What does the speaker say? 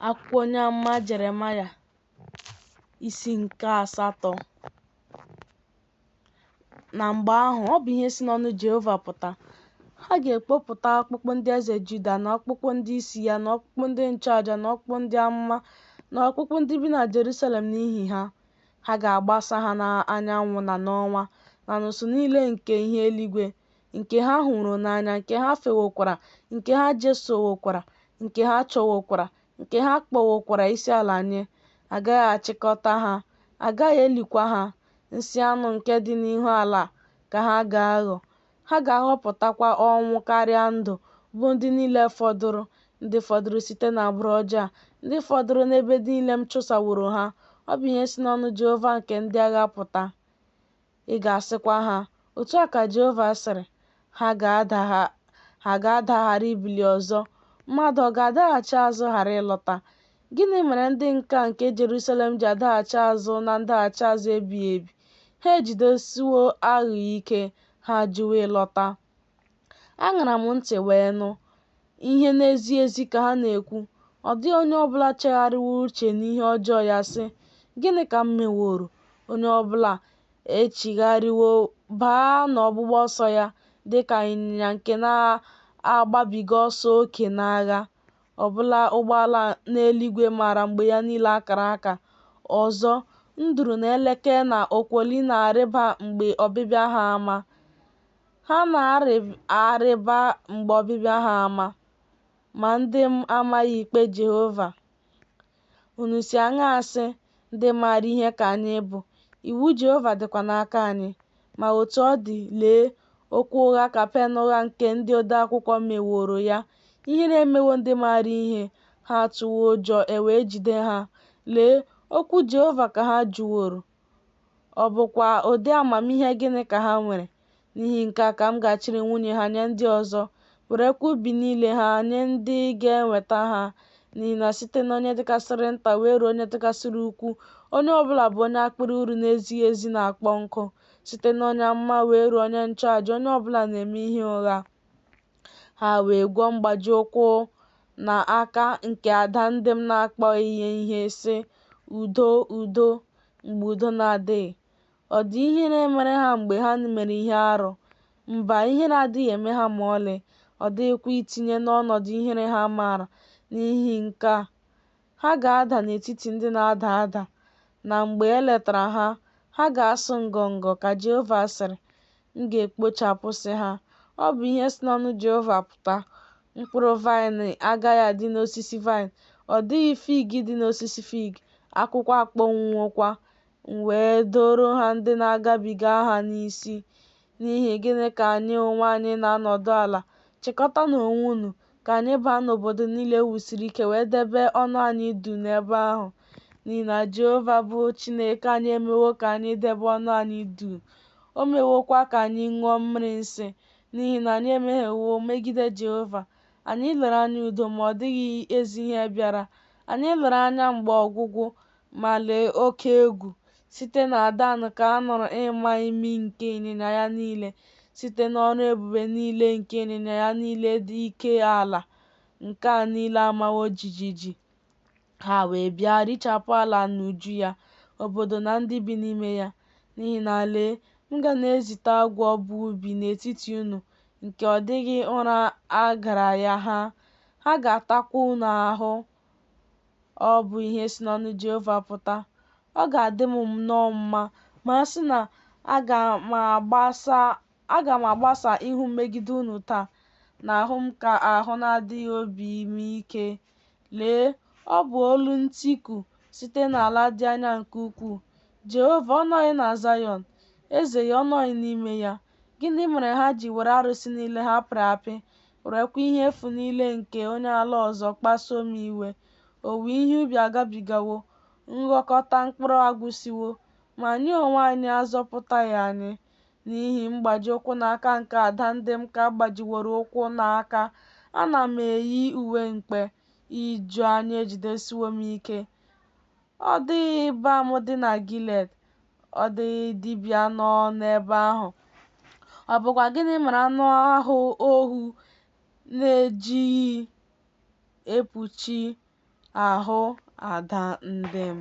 akwụkwọ onye amụma Jeremaya isi nke asatọ na mgbe ahụ ọ bụ ihe si n'ọnụ Jehova pụta ha ga-ekpopụta ọkpụkpụ ndị eze Juda na ọkpụkpụ ndị isi ya na ọkpụkpụ ndị nchụaja na ọkpụkpụ ndị amụma na ọkpụkpụ ndị bi na Jerusalem n'ihi ha ha ga-agbasa ha n'anyanwụ na n'ọnwa na n'usuu niile nke ihe eluigwe nke ha hụrụ n'anya nke ha fewokwara nke ha jesowokwara nke ha chọwokwara nke ha kpọwokwara isi ala nye agaghị achịkọta ha agaghị elikwa ha nsị anụ nke dị n'ihu ala ka ha ga-aghọ ha ga-ahọpụtakwa ọnwụ karịa ndụ bụ ndị niile fọdụrụ ndị fọdụrụ site n'agbụrụ ọjọọ a ndị fọdụrụ n'ebe niile m chụsaworo ha ọ bụ ihe si n'ọnụ Jehova nke ndị agha pụta Ị ga-asịkwa ha, Otu a ka Jehova sịrị, ha ga-ada ghara ibili ọzọ, mmadụ ọ ga-adaghachi azụ ghara ịlọta? Gịnị mere ndị nka nke Jerusalem ji adaghachi azụ na ndaghachi azụ ebighị ebi? Ha ejidesiwo aghụghọ ike, ha ajụwo ịlọta. Aṅara m ntị wee nụ ihe na-ezi ezi ka ha na-ekwu, ọ dịghị onye ọ bụla chegharịwo uche n'ihe ọjọọ ya sị, Gịnị ka m meworo? Onye ọ bụla echigharịwo baa n'ọgbụgba ọsọ ya dị ka ịnyịnya nke na-agbabiga ọsọ oke n'agha, ọbụla ụgbọala n'eluigwe maara mgbe ya niile akara aka. Ọzọ, nduru na eleke na okwoli na-arịba mgbe ọbịbịa ha ama. Ha na-arịba mgbe ọbịbịa ha ama, ma ndị m amaghị ikpe Jehova. Unu si aṅaa sị, Ndị maara ihe ka anyị bụ, iwu Jehova dịkwa n'aka anyị? Ma otu ọ dị, lee, okwu ụgha ka pen ụgha nke ndị odeakwụkwọ meworo ya. Ihere emewo ndị maara ihe, ha atụwo ụjọ, e wee jide ha. Lee, okwu Jehova ka ha jụworo, Ọ bụkwa ụdị amamihe gịnị ka ha nwere? N'ihi nke a ka m ga-achịrị nwunye ha nye ndị ọzọ, werekwa ubi niile ha nye ndị ga-enweta ha. N'ihi na site n'onye dịkasịrị nta wee ruo onye dịkasịrị ukwu, onye ọbụla bụ onye akpịrị uru na-ezighị ezi na-akpọ nkụ. Site n'onye amụma wee ruo onye nchụaja, onye ọbụla na-eme ihe ụgha. ha wee gwọ mgbaji ụkwụ na aka nke ada ndị m na-akpọghị ya ihe sị, Udo, udo, mgbe udo na-adịghị. Ọ dị ihere mere ha mgbe ha mere ihe arụ? Mba, ihere adịghị eme ha ma ọlị, ọ dịghịkwa itinye n'ọnọdụ ihere ha maara n'ihi nke a. Ha ga-ada n'etiti ndị na-ada ada, na mgbe e letara ha, ha ga-asụ ngọngọ, ka Jehova sịrị. M ga-ekpochapụsị ha. Ọ bụ ihe si n'ọnụ Jehova pụta. Mkpụrụ vaịnị agaghị adị n'osisi vaịnị, ọ dịghị fig dị n'osisi fig, akwụkwọ akpọnwụwokwa. M wee doro ha ndị na-agabiga ha n'isi. N'ihi gịnị ka anyị onwe anyị na-anọdụ ala? Chịkọtanụ onwe unu, ka anyị baa n'obodo niile e wusiri ike wee debe ọnụ anyị du n'ebe ahụ, n'ihi na Jehova bụ Chineke anyị emewo ka anyị debe ọnụ anyị du, o mewokwa ka anyị ṅụọ mmiri nsị, n'ihi na anyị emehiewo megide Jehova. Anyị lere anya udo, ma ọ dịghị ezi ihe bịara. Anyị lere anya mgbe ọgwụgwụ, ma lee oke egwu, site na Dan ka a nụrụ ịma imi nke ịnyịnya ya niile, site n'ọrụ ebube niile nke ịnyịnya ya niile dị ike ala nke a niile amawo jijiji. Ha wee bịa richapụ ala na uju ya, obodo na ndị bi n'ime ya. N'ihi na lee, m ga na-ezite agwọ bụ ubi n'etiti unu, nke ọ dịghị ụra a gara ya ha. Ha ga-atakwa unu ahụ Ọ bụ ihe si n'ọnụ Jehova pụta. Ọ ga-adị m nnọọ mma ma a sị na aga m agbasa ihu megide nwuta, n'ahụ m ka ahụ na-adịghị obi m ike. Lee, ọ bụ olu ntiku site n'ala dị anya nke ukwuu. Jehova ọ nọghị na Zayọn? Eze ya ọ nọghị n'ime ya? Gịnị mere ha ji were arụsị niile ha pịrị apị werekwa ihe efu niile nke onye ala ọzọ kpasuo m iwe. Owuwe ihe ubi agabigawo, nghọkọta mkpụrụ agwụsịwo, ma anyị onwe anyị a zọpụtaghị anyị n'ihi mgbaji ụkwụ na aka nke ada ndị m ka a gbajiworo ụkwụ na aka. Ana m eyi uwe mkpe, ijuanya ejidesiwo m ike. Ọ dịghị balm dị na Gilead, ọ dịghị dibịa nọ n'ebe ahụ. Ọ bụkwa gịnị mere anụ ahụ ọhụ na-ejighị ekpuchi ahụ ada ndị m?